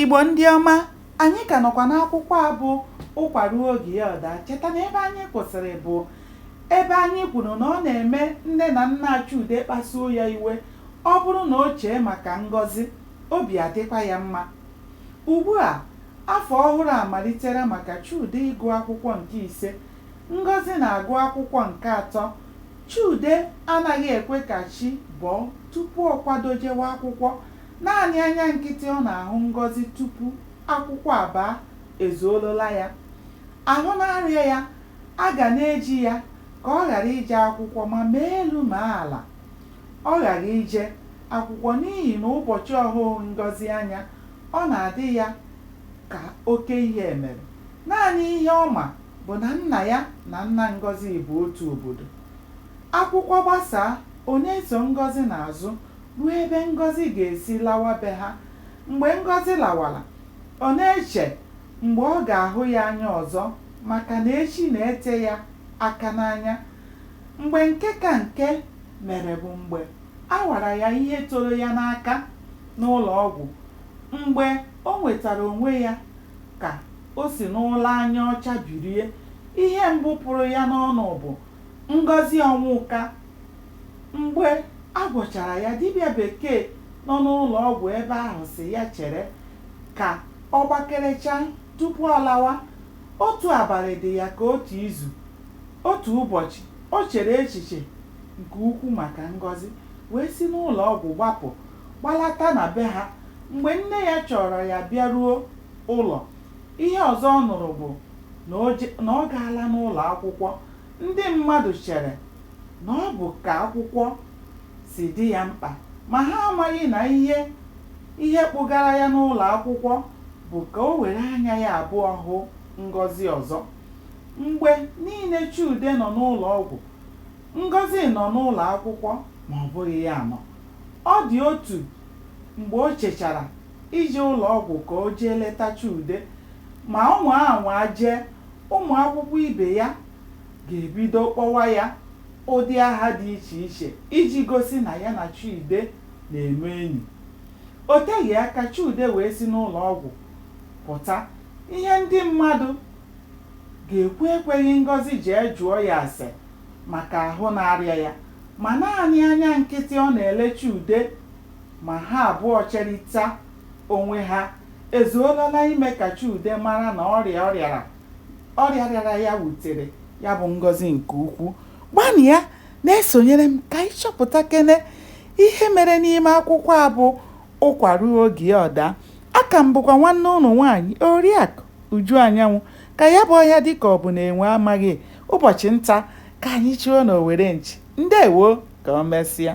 Igbo ndị ọma, anyị ka nọkwa n'akwụkwọ a bụ Ụkwa Ruo Oge Ya Ọ Daa. Cheta na ebe anyị kwụsịrị bụ ebe anyị kwuru na ọ na-eme nne na nna Chude kpasuo ya iwe ọ bụrụ na o chee maka Ngọzi, obi adịkwa ya mma. Ugbu a, afọ ọhụrụ amalitela maka Chude ịgụ akwụkwọ nke ise, Ngọzi na-agụ akwụkwọ nke atọ. Chude anaghị ekwe ka chi bọọ tupu ọ kwado jewe akwụkwọ Naanị anya nkịtị ọ na-ahụ Ngọzi tupu akwụkwọ abaa ezuorola ya. Ahụ na-arịa ya, a ga na-eji ya ka ọ ghara ije akwụkwọ ma mee elu mee ala, ọ ghaghị ije akwụkwọ n'ihi na ụbọchị ọ hụghị Ngọzi anya, ọ na-adị ya ka oke ihe mere. Naanị ihe ọ ma bụ na nna ya na nna Ngọzi bụ otu obodo. Akwụkwọ gbasaa, ọ na-eso Ngọzi n'azụ ruo ebe Ngọzi ga-esi lawa be ha. Mgbe Ngọzi lawara, ọ na-eche mgbe ọ ga-ahụ ya anya ọzọ maka na echi na-ete ya aka n'anya. Mgbe nke ka nke mere bụ mgbe a wara ya ihe toro ya n'aka n'ụlọọgwụ. Mgbe o nwetara onwe ya ka o si n'ụra anya ọcha bilie, ihe mbụ pụrụ ya n'ọnụ bụ, Ngọzi Ọnwụka! Mgbe a gwọchara ya, dibịa bekee nọ n'ụlọ ọgwụ ebe ahụ sị ya chere ka ọ gbakerechaa tupu ọ lawa. Otu abalị dị ya ka otu izu. Otu ụbọchị, o chere echiche nke ukwu maka Ngọzi wee si n'ụlọ ọgwụ gbapụ gbalata na be ha. Mgbe nne ya chọọrọ ya bịaruo ụlọ, ihe ọzọ ọ nụrụ bụ na o je, na ọ gaala n'ụlọ akwụkwọ Ndị mmadụ chere na ọ bụ ka akwụkwọ si dị ya mkpa, ma ha amaghị na ihe ihe kpụgara ya n'ụlọ akwụkwọ bụ ka o were anya ya abụọ hụ Ngọzi ọzọ. Mgbe niile Chude nọ n'ụlọ ọgwụ, Ngọzi nọ n'ụlọ akwụkwọ ma ọ bụghị ya nọ. Ọ dị otu mgbe o chechara ije ụlọ ọgwụ ka o jee leta Chude, ma ọ nwaa anwa jee, ụmụ akwụkwọ ibe ya ga-ebido kpọwa ya ụdị aha dị iche iche iji gosi na ya na Chude na-eme enyi. O teghị aka Chude wee si n'ụlọ ọgwụ pụta. Ihe ndị mmadụ ga-ekwu ekweghị Ngọzi jee jụọ ya ase maka ahụ na-arịa ya, ma naanị anya nkịtị ọ na-ele Chude Ma ha abụọ cherịta onwe ha, ezuola na ime ka Chude mara na ọrịa ọ rịara ọrịa rịara ya wutere ya bụ Ngozi nke ukwu. Gbanịa na-esonyere m ka anyị chọpụtakene ihe mere n'ime akwụkwọ a bụ Ụkwa Ruo Oge Ọ Daa. Aka m bụkwa nwanne ụnụ nwaanyị Oriakụ Uju Anyanwụ. Ka ya bụ ọhịa dị ka ọ bụ na enwe amaghị ụbọchị nta, ka anyị chụọ na owere nchi. Ndewo! Ka o mesịa.